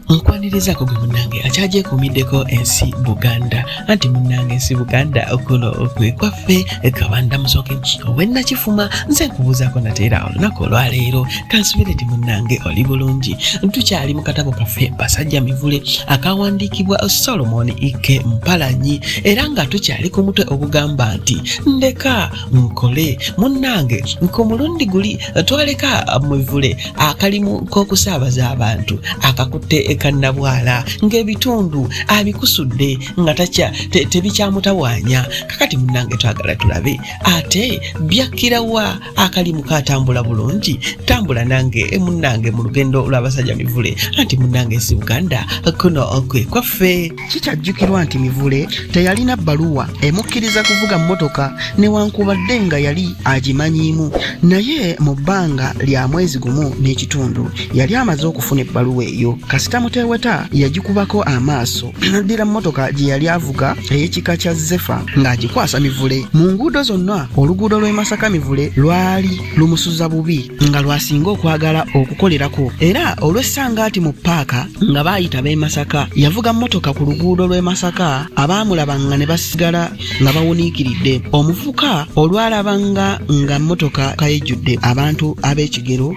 nkwanirizaako gwe munnange akyagyekuumiddeko ensi buganda anti munnange ensi buganda okuno kwe kwaffe kabanda musoke owennakifuma nze nkubuuzaako nateera olunaku olwaleero kansubire ti munnange oli bulungi tukyali mu katabo kaffe basajja mivule akawandiikibwa solomon ike mpalanyi era nga tukyali ku mutwe ogugamba nti ndeka nkole munnange nkomulundi guli twaleka mivule akalimu k'okusaabaza abantu akakutte ekannabwala ng'ebitundu abikusudde nga takya tebikyamutawaanya kakati munange twagala tulabe ate byakkira wa akalimu katambula bulungi tambula nange e munange mu lugendo lw'abasajja mivule anti munange si buganda kuno okwe kwaffe Kikyajjukirwa nti Mivule teyalina bbaluwa emukkiriza kuvuga mmotoka newankubadde nga yali agimanyiimu naye mu bbanga lya mwezi gumu n'ekitundu yali amaze okufuna ebbaluwa eyo. Kasita Muteeweta yagikubako amaaso n'addira mmotoka gye yali avuga ey'ekika kya Zefa ng'agikwasa Mivule. Mu nguudo zonna oluguudo lw'e Masaka Mivule lwali lumusuza bubi nga lwasinga okwagala okukolerako era olw'essangaati mu paaka nga baayita b'e masaka yavuga mmotoka ku luguudo lw'e masaka abaamulaba nga ne basigala nga bawuniikiridde omuvuka olwalaba nga nga mmotoka kayejjudde abantu ab'ekigero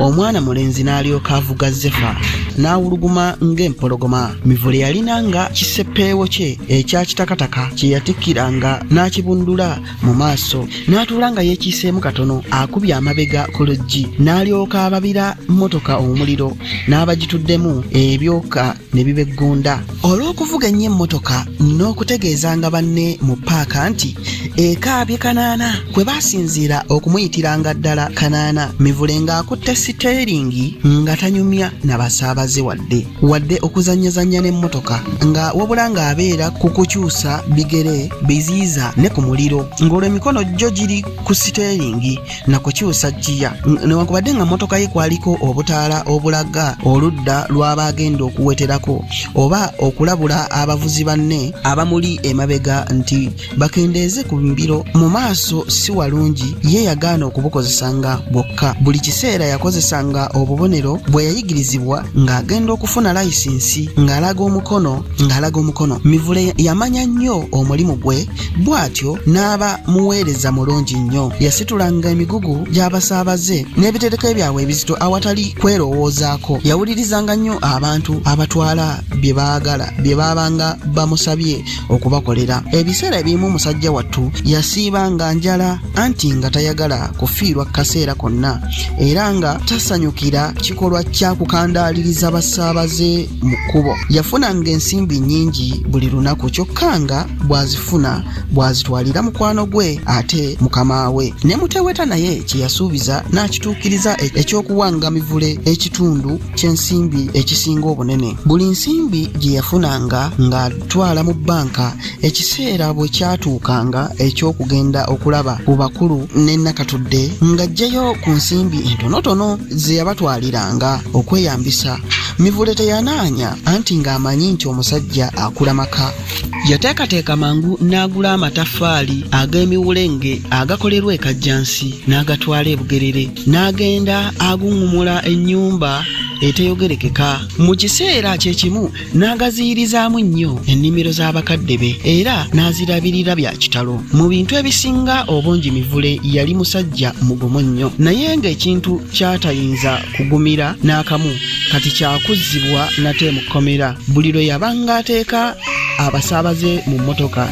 omwana mulenzi n'alyoka avuga zefa n'awuluguma ng'empologoma mivule yalina nga kiseppeewo kye ekya kitakataka kye yatikkiranga n'akibundula mu maaso n'atuula nga yeekiiseemu katono akubye amabega ku luggi n'alyoka ababira mmotoka omuliro n'abagituddemu ebyoka ne bibeggunda olw'okuvuga ennyo emmotoka n'okutegeezanga banne mu paaka nti ekaabye kanaana kwe baasinziira okumuyitiranga ddala kanaana mivule ng'akutte siteeringi nga tanyumya na basaabaze wadde wadde okuzannyazannya n'emmotoka nga wabula ng'abeera ku kukyusa bigere biziyiza ne ku muliro ng'olwo emikono gyo giri ku siteeringi na kukyusa ggiya newankubadde nga mmotoka ye kwaliko obutaala obulaga oludda lw'aba agenda okuweterako oba okulabula abavuzi banne abamuli emabega nti bakendeeze ku mbiro mu maaso si walungi ye yagaana okubukozesanga bwokka buli kiseera yakozesanga obubonero bwe yayigirizibwa ng'agenda okufuna layisinsi ng'alaga omukono ng'alaga omukono mivule yamanya nnyo omulimu gwe bw'atyo n'aba muweereza mulungi nnyo yasitulanga emigugu gy'abasaabaze n'ebitereko ebyabwe ebizito awatali kwerowoozaako yawulirizanga nnyo abantu abatwala bye baagala bye baabanga bamusabye okubakolera ebiseera ebimu musajja wattu yasiiba nga njala anti nga tayagala kufiirwa kaseera konna era nga tasanyukira kikolwa kya kukandaaliriza basaabaze mu kkubo yafunanga ensimbi nnyingi buli lunaku kyokka nga bw'azifuna bw'azitwalira mukwano gwe ate mukama we ne muteweta naye kye yasuubiza n'akituukiriza e-, eky'okuwanga mivule ekitundu ky'ensimbi ekisinga obunene buli nsimbi gye yafunanga nga twala mu bbanka ekiseera bwe kyatuukanga eky'okugenda okulaba ku bakulu ne nakatudde ng'aggyeyo ku nsimbi entonotono ze yabatwaliranga okweyambisa mivule teyanaanya anti ng'amanyi nti omusajja akula maka yateekateeka mangu n'agula amataffaali ag'emiwulenge agakolerwa ekajjansi n'agatwala ebugerere n'agenda aguŋŋumula ennyumba eteyogerekeka mu kiseera kye kimu n'agaziyirizaamu nnyo ennimiro z'abakadde be era n'azirabirira bya kitalo mu bintu ebisinga obungi mivule yali musajja mugumu nnyo naye ng'ekintu ky'atayinza kugumira n'akamu kati kyakuzzibwa nate mu kkomera buli lwe yabanga ateeka abasaabaze mu mmotoka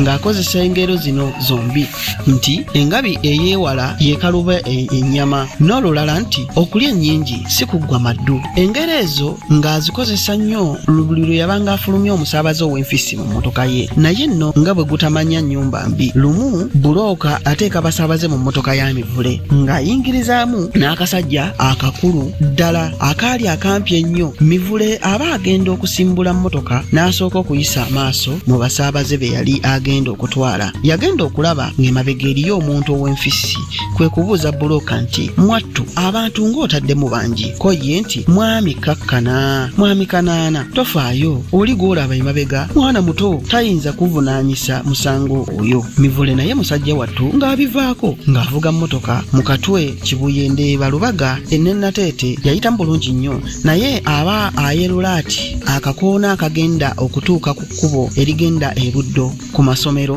ng'akozesa engero zino zombi nti engabi ey'ewala yekaluba e-, ennyama n'olulala nti okulya ennyingi si kuggwa maddu engero ezo ng'azikozesa nnyo buli lwe yabanga afulumya omusaabaze ow'enfissi mu mmotoka ye naye nno nga bwe gutamanya nnyumba mbi lumu bulooka ateeka basaabaze mu mmotoka ya mivule ng'ayingirizaamu n'akasajja akakulu ddala akaali akampi ennyo mivule aba agenda okusimbula mmotoka n'asooka okuyisa amaaso mu basaabaze be yali agenda okutwala yagenda okulaba ng'emabega eriyo omuntu ow'enfissi kwe kubuuza bulooka nti mwattu abantu ng'otaddemu bangi ko ye nti mwami kakkana mwami kanaana tofaayo oli gw'olaba emabega mwana muto tayinza kuvunaanyisa musango oyo mivule naye musajja wattu ng'abivaako ng'avuga mmotoka mu katwe kibuye ndeeba lubaga ennenateete yayitamu bulungi nnyo naye aba ayerula ati akakoona akagenda okutuuka ku kkubo erigenda e buddo ku masomero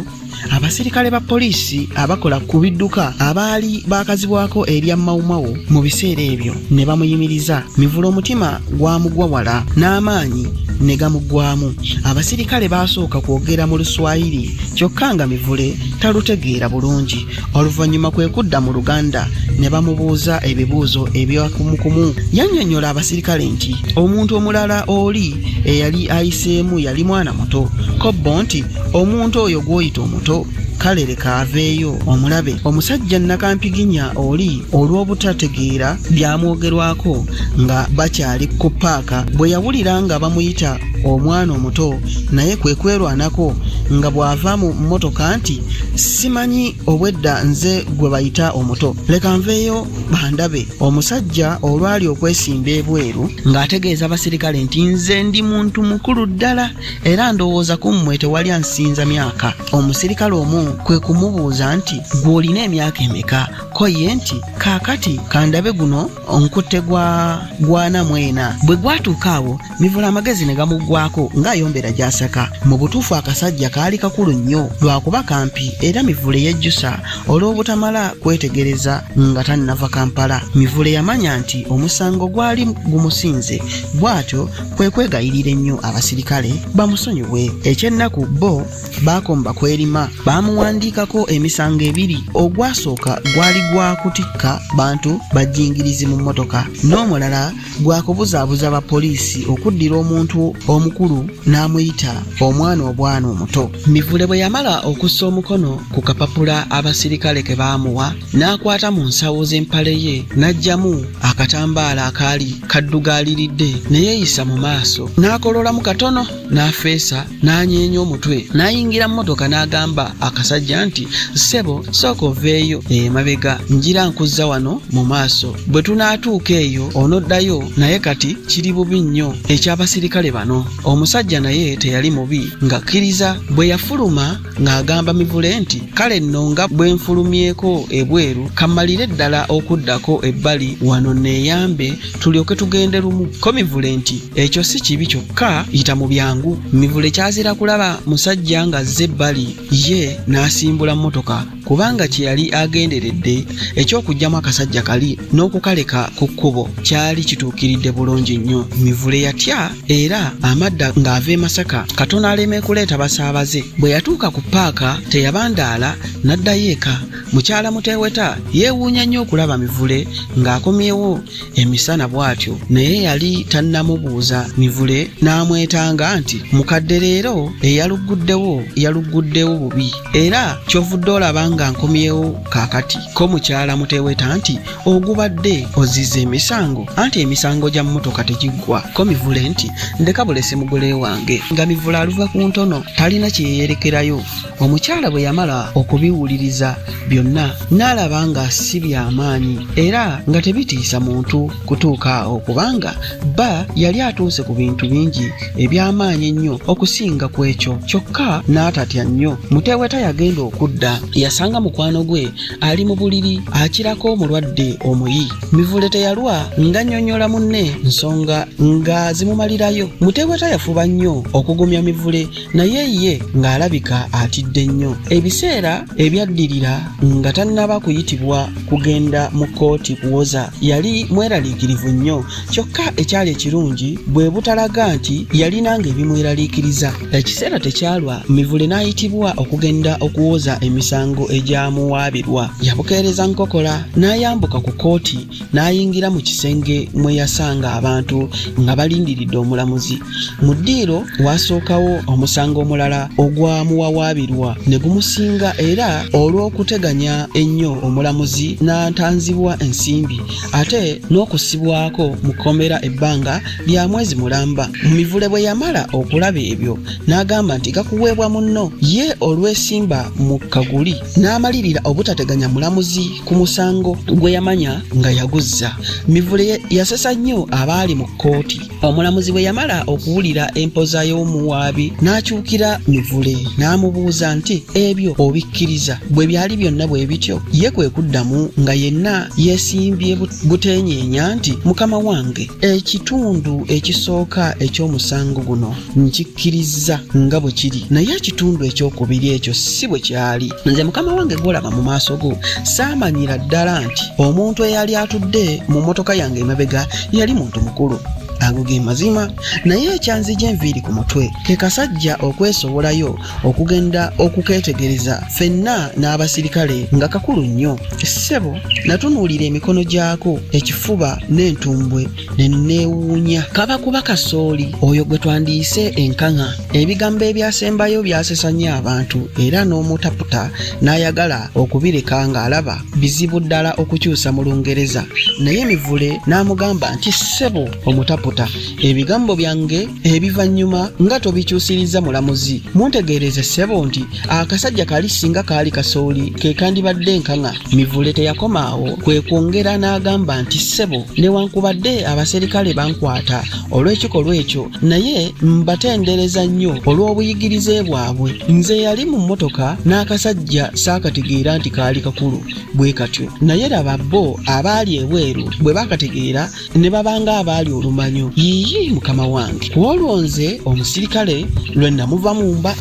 Abasirikale ba poliisi abakola ku bidduka abaali baakazibwako erya Mawumawu mu biseera ebyo ne bamuyimiriza mivula omutima gwamugwa wala n'amaanyi ne gamuggwamu. Abasirikale baasooka kwogera mu Luswayiri kyokka nga Mivule talutegeera bulungi. Oluvannyuma kwe kudda mu Luganda ne bamubuuza ebibuuzo ebyakumukumu. Yannyonnyola abasirikale nti omuntu omulala oli eyali ayiseemu yali mwana muto. Kobbo nti omuntu oyo gw'oyita omuto kale leka aveeyo omulabe omusajja nakampiginya oli olw'obutategeera byamwogerwako nga bakyali ku paaka bwe yawulira nga bamuyita omwana omuto naye kwe kwerwanako nga bw'ava mu mmotoka nti simanyi obwedda nze gwe bayita omuto leka nveeyo bandabe omusajja olwali okwesimba ebweru ng'ategeeza abasirikale nti nze ndi muntu mukulu ddala era ndowooza ku mmwe tewali ansinza myaka omusirikale omu kwe kumubuuza nti gw'olina emyaka emeka ko ye nti kaakati kandabe guno onkutte gwa gwana mwena bwe gwatuuka awo mivula amagezi ne gamuggwako ng'ayombera gy'asaka mu butuufu akasajja kaali kakulu nnyo lwakuba kampi era mivule yejjusa olw'obutamala kwetegereza nga tannava kampala mivule yamanya nti omusango gwali gumusinze bw'atyo kwe kwegayirira ennyo abasirikale bamusonyiwe ekyennaku bo baakomba kwerima baamuwandiikako emisango ebiri ogwasooka gwali gwa kutikka bantu bajingirizi mu mmotoka n'omulala gwa kubuzaabuza bapoliisi okuddira omuntu omukulu n'amuyita omwana obwana omuto Mivule bwe yamala okussa omukono ku kapapula abasirikale ke baamuwa n'akwata mu nsawo z'empale ye n'aggyamu akatambaala akaali kaddugaaliridde ne yeeyisa mu maaso n'akololamu katono n'afeesa n'anyeenya omutwe n'ayingira mmotoka n'agamba akasajja nti ssebo sooka oveeyo emabega njira nkuzza wano mu maaso bwe tunaatuuka eyo onoddayo naye kati kiri bubi nnyo eky'abasirikale bano omusajja naye teyali mubi ng'akkiriza bwe yafuluma ng'agamba mivule nti kale nno nga bwe nfulumyeko ebweru kammalire ddala okuddako ebbali wano neeyambe tulyoke tugende lumu ko mivule nti ekyo si kibi kyokka yita mu byangu mivule kyazira kulaba musajja ng'azze ebbali ye n'asimbula mmotoka kubanga kye yali agenderedde eky'okuggyamu akasajja kali n'okukaleka ku kkubo kyali kituukiridde bulungi nnyo mivule yatya era amadda ng'ava e masaka katono aleme kuleeta basaabaze bwe yatuuka ku paaka teyabandaala n'addayo eka mukyala muteweta yeewuunya nnyo okulaba mivule ng'akomyewo emisana bw'atyo naye yali tannamubuuza mivule n'amwetanga nti mukadde leero eyalugguddewo yalugguddewo bubi era kyovudde olaba nga nkomyewo kaakati ko mukyala muteweta nti ogubadde ozizza emisango anti emisango gya mmotoka tegiggwa ko mivule nti ndeka bulese mugole wange nga mivule aluva ku ntono talina kye yeyerekerayo omukyala bwe yamala okubiwuliriza byonna n'alaba nga si by'amaanyi era nga tebitiisa muntu kutuuka awo kubanga bba yali atuuse ku bintu bingi eby'amaanyi ennyo okusinga ku ekyo kyokka n'atatya nnyo muteeweta yagenda okudda yasanga mukwano gwe ali mu buliri akirako omulwadde omuyi mivule teyalwa ng'annyonnyola munne nsonga nga zimumalirayo muteeweta yafuba nnyo okugumya mivule naye ye ng'alabika atidde nnyo ebiseera ebyaddirira nga tannaba kuyitibwa kugenda mu kkooti kuwoza yali mweraliikirivu nnyo kyokka ekyali ekirungi bwe butalaga nti yalina ng'ebimweraliikiriza ekiseera tekyalwa mivule n'ayitibwa okugenda okuwoza emisango egyamuwaabirwa yabukeereza nkokola n'ayambuka ku kkooti n'ayingira mu kisenge mwe yasanga abantu nga balindiridde omulamuzi mu ddiiro waasookawo omusango omulala ogwamuwawaabirwa ne gumusinga era olw'okuteganya ennyo omulamuzi n'antanzibwa ensimbi ate n'okusibwako mu kkomera ebbanga lya mwezi mulamba mu mivule bwe yamala okulaba ebyo n'agamba nti gakuweebwa munno ye olwesimba mu kaguli n'amalirira obutateganya mulamuzi ku musango gwe yamanya nga yaguzza mivule yasesa nnyo abaali mu kkooti omulamuzi bwe yamala okuwulira empoza y'omuwaabi n'akyukira mivule n'amubuuza nti ebyo obikkiriza bwe byali byonna bwe bityo ye kwe kuddamu nga yenna yeesimbye buteenyeenya nti mukama wange ekitundu ekisooka eky'omusango guno nkikkirizza nga bwe kiri naye ekitundu ekyokubiri ekyo si bwe kyali nze mukama wange gwolaba mu maaso go saamanyira ddala nti omuntu eyali atudde mu mmotoka yange emabega yali muntu mukulu ago ge mazima naye ekyanzija enviiri ku mutwe ke kasajja okwesowolayo okugenda okukeetegereza fenna n'abasirikale nga kakulu nnyo ssebo natunuulira emikono gyako ekifuba n'entumbwe neneewuunya kaba kuba kasooli oyo gwe twandiyise enkaŋa ebigambo ebyasembayo byasesa nnyo abantu era n'omutaputa n'ayagala okubireka ng'alaba bizibu ddala okukyusa mu lungereza naye mivule n'amugamba nti ssebo omutaputa ebigambo byange ebivannyuma nga tobikyusirizza mulamuzi muntegeereze ssebo nti akasajja kali singa kaali kasooli ke kandibadde enkaŋa Mivule teyakoma awo kwe kwongera n'agamba nti ssebo newankubadde abaserikale bankwata olw'ekikolwa ekyo naye mbatendereza nnyo olw'obuyigirize bwabwe nze yali mu mmotoka n'akasajja saakategeera nti kaali kakulu bwe katyo naye laba bo abaali ebweru bwe baakategeera ne babanga abaali olumanyo yiyi mukama wange ku olwo nze omusirikale lwe namuva mu mba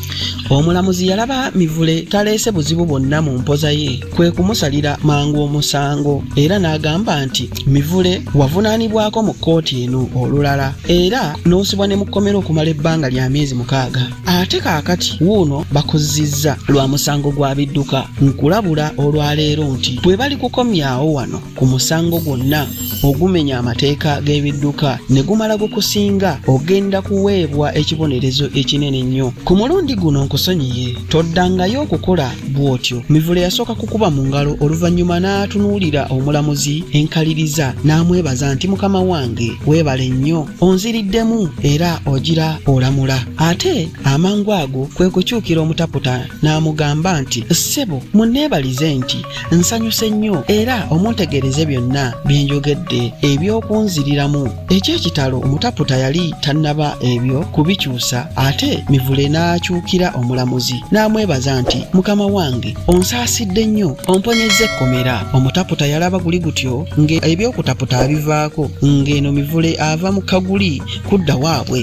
omulamuzi yalaba mivule taleese buzibu bwonna mu mpoza ye kwe kumusalira mangu omusango era n'agamba nti mivule wavunaanibwako mu kkooti eno olulala era n'osibwa ne mukkomera okumala ebbanga lya myezi mukaaga ate kaakati wuuno bakuzzizza lwa musango gwa bidduka nkulabula olwaleero nti bwe bali kukomyawo wano ku musango gwonna ogumenya amateeka g'ebidduka ne gumala gukusinga ogenda kuweebwa ekibonerezo ekinene ennyo ku mulundi guno nkusonyiye toddangayo okukola bw'otyo mivule yasooka kukuba mu ngalo oluvannyuma n'atunuulira omulamuzi enkaliriza n'amwebaza nti mukama wange weebale nnyo onziriddemu era ogira olamula ate amangu ago kwe kukyukira omutaputa n'amugamba nti ssebo munneebalize nti nsanyuse nnyo era omuntegeereze byonna bye njogedde eby'okunziriramu eky'ekitalo omutaputa yali tannaba ebyo kubikyusa ate mivule n'akyukira omulamuzi n'amwebaza nti mukama wange onsaasidde nnyo omponyezza ekkomera omutaputa yalaba guli gutyo ng'ebyokutaputa abivaako ng'eno mivule ava mu kaguli kudda waabwe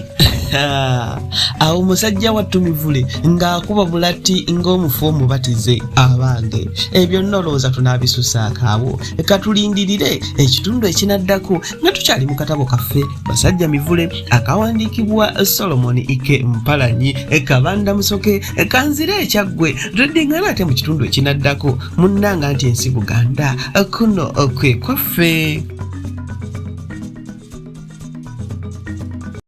awo musajja wattu mivule ng'akuba bulatti ng'omufu omubatize abange ebyo nolowooza tunaabisusaako awo katulindirire ekitundu ekinaddako nga tukyali mu katabo kaffe basajja mivule akawandiikibwa solomoni ike mpalanyi kabanda musoke kanzire ekyaggwe tuddingana ate mu kitundu ekinaddako munnanga nti ensi buganda kuno kwe kwaffe